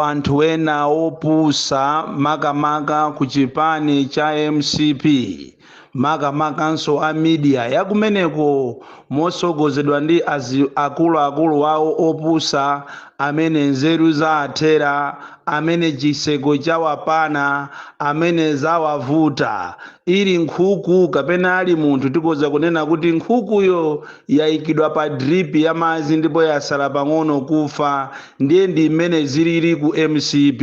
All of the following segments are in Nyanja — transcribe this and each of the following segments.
anthu ena opusa makamaka ku chipani cha mcp makamakanso a media yakumeneko mosogozedwa ndi akuluakulu wawo opusa amene nzeru zaathera amene chiseko chawapana amene zawavuta ili nkhuku kapena ali munthu tikoza kunena kuti nkhukuyo yayikidwa pa drip ya madzi ndipo yasala pang'ono kufa Ndiye ndi mmene zilili ku mcp.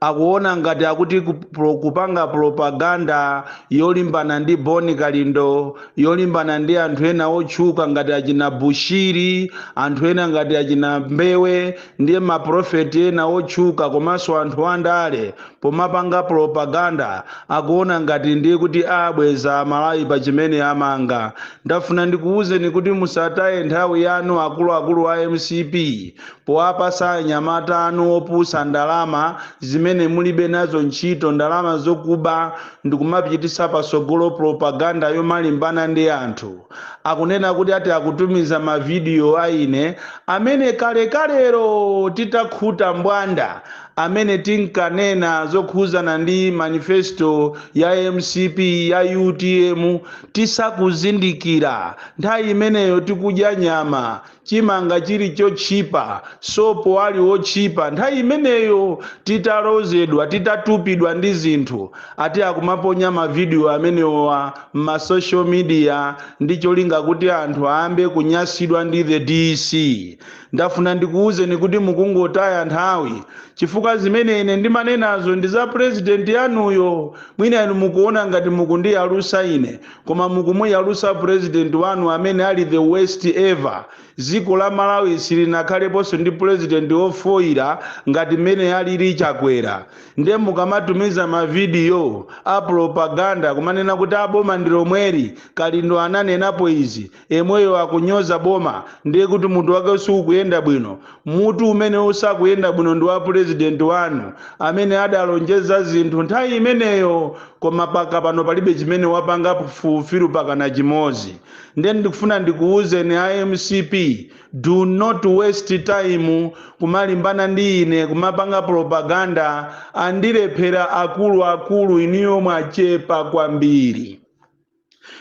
Akuona ngati akuti kupanga propaganda yolimbana ndi Bon Kalindo, yolimbana ndi anthu ena otchuka ngati achina Bushiri, anthu ena ngati achina Mbewe ndiye maprofeti ena otchuka komanso anthu andale, pomapanga propaganda akuona ngati ndiye kuti abweza amalawi pa chimene amanga ndafuna ndikuuzeni kuti musataye nthawi yanu akuluakulu a mcp powapasa anyamata anu opusa ndalama zimene mulibe nazo ntchito ndalama zokuba ndikumapititsa pasogolo propaganda yomalimbana ndi anthu akunena kuti ati akutumiza mavidiyo a ine amene kalekalero titakhuta mbwanda amene tinkanena zokhuzana ndi manifesto ya mcp ya utm tisakuzindikira nthawi imeneyo tikudya nyama chimanga chili chotchipa sopo ali wotchipa nthawi imeneyo titalozedwa titatupidwa ndi zinthu ati akumaponya mavidiyo amenewa mma social media ndi cholinga kuti anthu ayambe kunyasidwa ndi the DC Ndafuna ndikuuzeni kuti mukungotaya nthawi chifukwa zimene ine ndimanenazo ndi za president yanuyo. Mwina inu mukuona ngati mukundiyalusa ine koma mukumuyalusa president wanu amene ali the worst ever. Dziko la Malawi silinakhaleponso ndi president ofoira ngati mmene alili Chakwera. Nde mukamatumiza mavidiyo a propaganda kumanena kuti a boma ndi lomweli, Kalindo ananenapo izi, Yemweyo akunyoza boma ndiye kuti mutu wake sukuyenda bwino? Mutu umene usakuyenda bwino ndi wa president wanu amene adalonjeza zinthu nthawi imeneyo koma paka pano palibe chimene wapangapo fulfill pakana chimodzi. Ndiye ndikufuna ndikuuzeni a mcp do not waste time kumalimbana ndi ine kumapanga propaganda andilephera akuluakulu inuyo mwachepa kwambiri.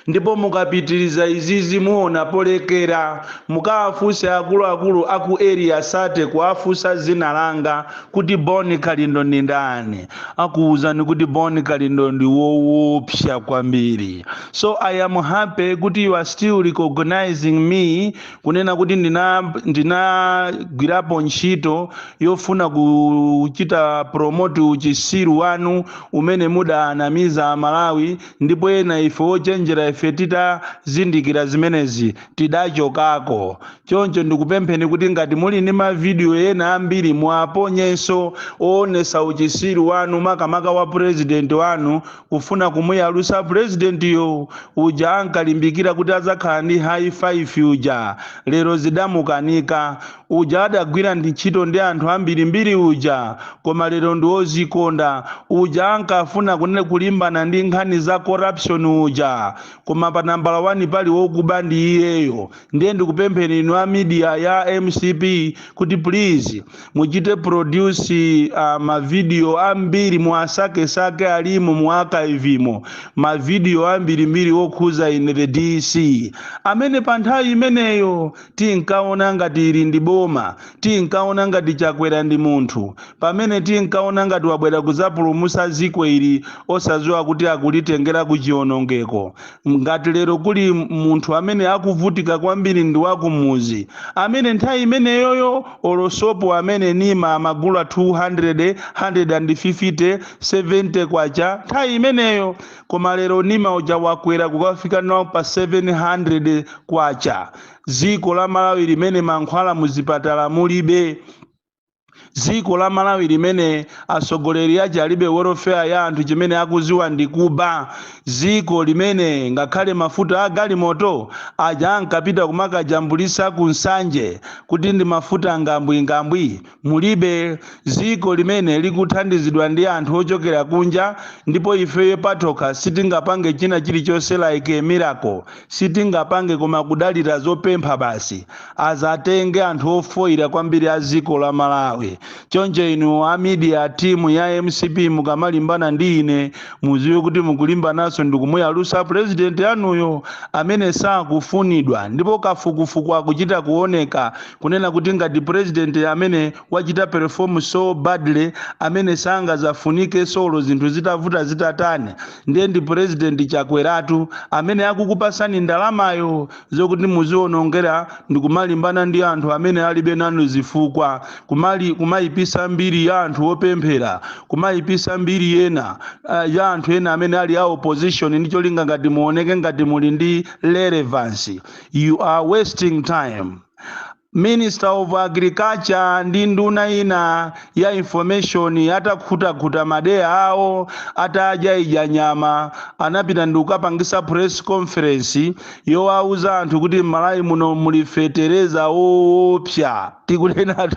ndipo mukapitiriza izizi muona polekera mukawafunse akuluakulu aku area sate kuwafunsa zina langa kuti Bon Kalindo ndi ndani akuwuzani kuti Bon Kalindo ndi wowopsa kwambiri so i am happy kuti you are still recognizing me kunena kuti ndina ndinagwirapo ntchito yofuna kuchita promote uchisiru wanu umene mudanamiza amalawi Ndipo ena ife wochenjera ife titazindikira zimenezi, tidachokako. Choncho ndikupempheni kuti ngati muli ndi ma video ena ambiri muwaponyenso owonesa uchisiru wanu makamaka wa president wanu kufuna kumuyalusa president yo uja ankalimbikira kuti adzakhala ndi high 5 uja lero zidamukanika Uja adagwira ntchito ndi anthu ambirimbiri uja, koma lero ndi wozikonda, uja ankafuna kunena kulimbana ndi nkhani za corruption uja, koma pa nambala wani pali wokuba ndi iyeyo, ndiye ndikupempheni inu a media ya mcp kuti please muchite produce ma video ambiri muwasake sake alimo mu archive mo ma video ambirimbiri wokhuza ine the DC amene pa nthawi imeneyo Tinkaona ngati ili ndi boma, tinkaona ngati Chakwera ndi munthu, pamene tinkaona ngati wabwera kuzapulumusa ziko ili osaziwa kuti akulitengera kuchionongeko. Ngati lero kuli munthu amene akuvutika kwambiri ndi wakumuzi, amene nthawi imeneyoyo olo sopo amene Nima amagula 200, 150, 70 kwacha nthawi imeneyo, koma lero nima uja wakwera kukafika nawo pa 700 kwacha ziko la malawi limene mankhwala muzipatala mulibe ziko la malawi limene atsogoleri ake alibe welfare ya anthu chimene akuziwa ndi kuba ziko limene ngakhale mafuta a galimoto aja ankapita kumakajambulisa ku Nsanje kuti ndi mafuta ngwambingwambi Mulibe dziko limene likuthandizidwa ndi anthu ochokera kunja ndipo ifeyo patokha sitingapange china chilichonse like a miracle sitingapange koma kudalira zopempha basi azatenge anthu ofoira kwambiri a dziko la Malawi choncho inu a media team ya mcp mukamalimbana ndi ine muziwe kuti mukulimbananso ndikumuyalusa president anuyo amene sakufunidwa ndipo kafukufuku akuchita kuoneka kunena kuti ngati president amene wachita perform so badly amene sangazafunike solo zinthu zitavuta zitatani ndiye ndi president chakweratu amene akukupasani ndalamayo zokuti muzionongera ndikumalimbana ndi anthu amene alibe nanu zifukwa kumali kumayipisa mbiri ya anthu opemphera kumayipisa mbiri ya ena uh, ya anthu ena amene ali a opposition ndi cholinga ngati muoneke ngati muli ndi relevance You are wasting time. Minister of Agriculture ndi nduna ina ya information atakhutakhuta madeya awo atadyaidya nyama anapita ndi kukapangisa press conference yowauza anthu kuti m'Malawi muno muli fetereza woopsa. tikunenatu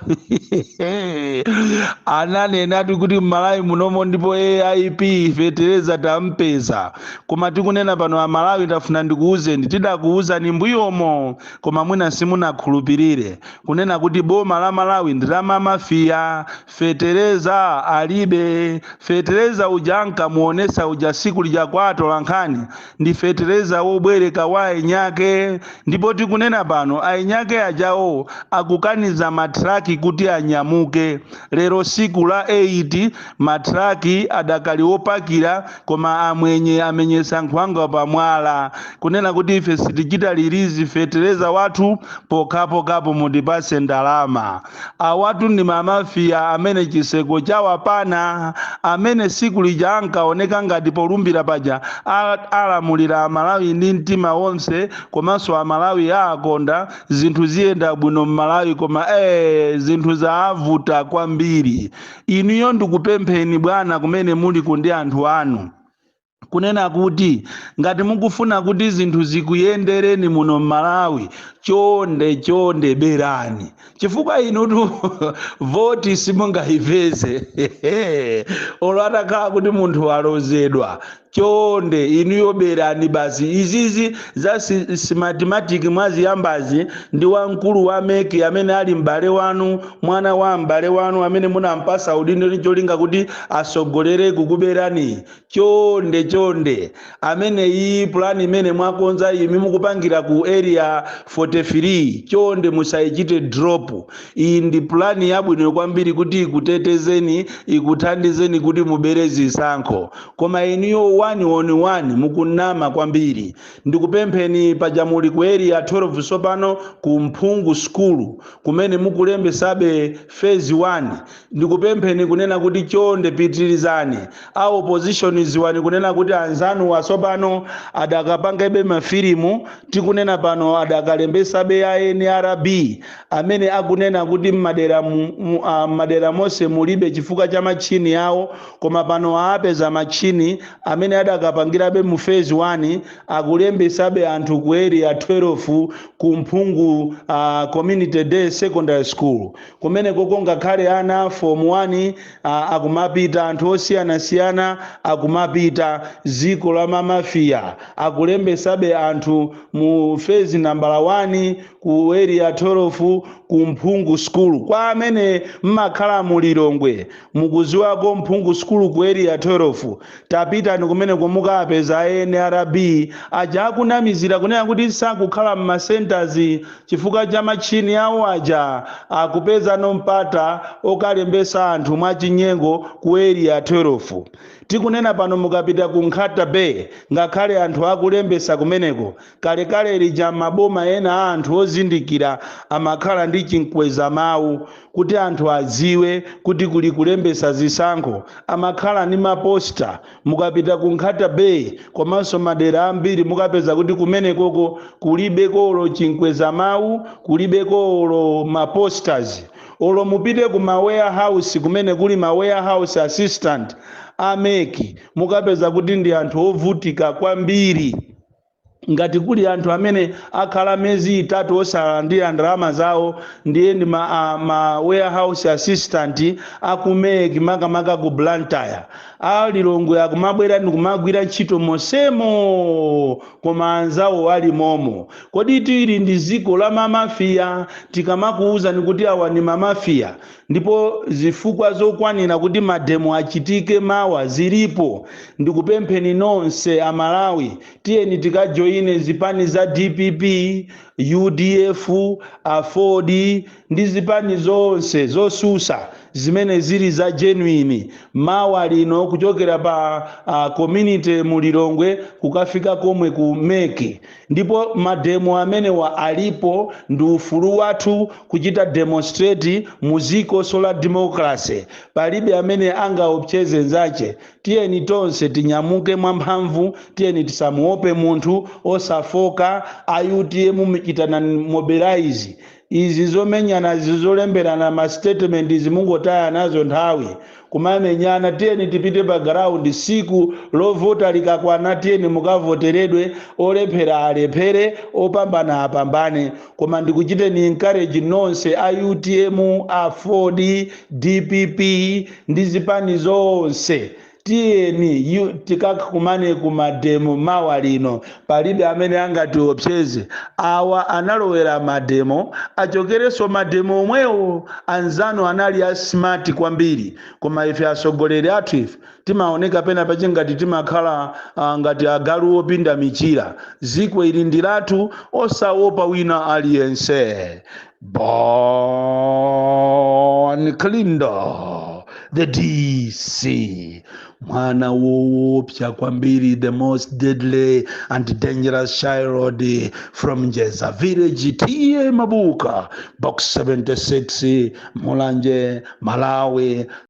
ananenatu kuti mmalawi munomo ndipo aip fetereza tampeza koma tikunena pano amalawi ndafuna ndikuwuzeni tidakuwuzani mbuyomo koma mwina simunakhulupirire kunena kuti boma la malawi ndi la mamafiya fetereza alibe fetereza uja ankamuonesa uja siku lija kwa atolankhani ndi fetereza wobwereka wa eniake ndipo tikunena pano eniake ajawo akukaniza matraki kuti anyamuke lero siku la 8 matraki adakali wopakira koma amwenye amenyesa nkhwangwa pamwala kunena kuti ife sitichita release fetereza wathu pokhapokhapo mutipatse ndalama awatu ndi mamafiya amene chiseko Chakwera amene tsiku lija ankaoneka ngati polumbira paja a- alamulira amalawi ndi mtima wonse komanso amalawi aakonda zinthu ziyenda bwino mmalawi koma ee zinthu zaavuta kwambiri inuyo ndikupempheni bwana kumene muliko ndi anthu anu kunena kuti ngati mukufuna kuti zinthu zikuyendereni muno m'malawi chonde chonde berani chifukwa inutu voti simungayipeze olo atakhala kuti munthu walozedwa chonde inuyo berani basi izizi za si- Smartmatic mwaziyambazi ndi wamkulu wa MEC amene ali m'bale wanu mwana wa m'bale wanu amene munampasa udindo ndi cholinga kuti asogolere kukuberani chonde chonde imeneyi pulani imene mwakonza imene mukupangira ku area 43 chonde musayichite drop iyi ndi pulani yabwino kwambiri kuti ikutetezeni ikuthandizeni kuti mubere zisankho koma inuyo 111 mukunama kwambiri ndikupempheni paja muli ku area 12 sopano ku mphungu sukulu kumene mukulembesabe phase 1 Ndikupempheni kunena kuti chonde pitilizani. A opposition dziwani kunena kuti anzanuwa tsopano adakapangabe ma filimu tikunena pano adakalembesabe ya nrb amene akunena kuti mmadera mmadera mose mulibe chifukwa cha machine awo koma pano aapeza machine amene adakapangilabe mu phase 1 akulembesabe anthu ku area 12 ku mphungu community day secondary school Kumenekoko ngakhale ana a Form 1 akumapita, anthu osiyanasiyana akumapita. Dziko la mamafia. Akulembesabe anthu mu phase number 1, ku Area 12, ku Mphungu School. Kwa amene mumakhala mu Lilongwe, mukudziwako Mphungu School ku Area 12? Tapitani kumeneko mukaapeza a nrb aja akunamizira kunena kuti sakukhala mma centres chifukwa cha machini awo aja akupezano mpata okalembesa anthu mwa chinyengo ku area 12. Tikunena pano mukapita ku Nkhata Bay ngakhale anthu akulembesa kumeneko Kalekale lija m'maboma ena a anthu ozindikira amakhala ndi chimkwezamawu kuti anthu adziwe kuti kuli kulembetsa zisankho. Amakhala ndi ma poster. Mukapita ku Nkhata Bay komanso madera ambiri mukapeza kuti kumenekoko kulibeko olo chimkwezamawu, kulibeko olo ma posters. Olo mupite ku ma warehouse kumene kuli ma warehouse assistant a mec mukapeza kuti ndi anthu ovutika kwambiri. ngati kuli anthu amene akhala miyezi itatu osalandira ndalama zawo ndiye ndi ma, a, ma warehouse assistant a ku mec makamaka ku blantyre a lilongwe akumabwera ndikumagwira ntchito mosemo koma anzawo ali momo kodi tili ndi dziko la mamafiya tikamakuwuzani kuti awa ndi mamafiya Ndipo zifukwa zokwanira kuti mademo achitike mawa zilipo. Ndikupempheni nonse a Malawi tiyeni tikajoine zipani za dpp, udf, aford ndi zipani zonse zotsutsa zimene zili za genuine mawa lino kuchokera pa a community mu Lilongwe kukafika komwe ku mec. ndipo mademo amenewa alipo ndi ufulu wathu kuchita demonstrate mudzikonso la democracy palibe amene angaopseze nzache tiyeni tonse tinyamuke mwamphamvu tiyeni tisamuope munthu osafoka a utm muchitane mobilize Izi zomenyana izi zolemberana ma statement izi mungotaya nazo nthawi kumamenyana tiyeni tipite pa ground siku lovota likakwana tiyeni mukavoteredwe olephera alephere opambana apambane koma ndikuchiteni encourage nonse a utm, aford, dpp ndi zipani zonse Tiyeni tikakumane ku mademo mawa lino palibe amene angatiopseze. Awa analowera mademo achokerenso mademo omwewo. Anzanu anali a smart kwambiri koma ife atsogoleri athu ife timaoneka pena pache ngati timakhala uh, ngati agalu opinda michira. Ziko ili ndi lathu osaopa wina aliyense. Bon Kalindo, the DC, mwana woopsa kwambiri, the most deadly and dangerous child from Jeza village, TA Mabuka, box 76, Mulanje, Malawi.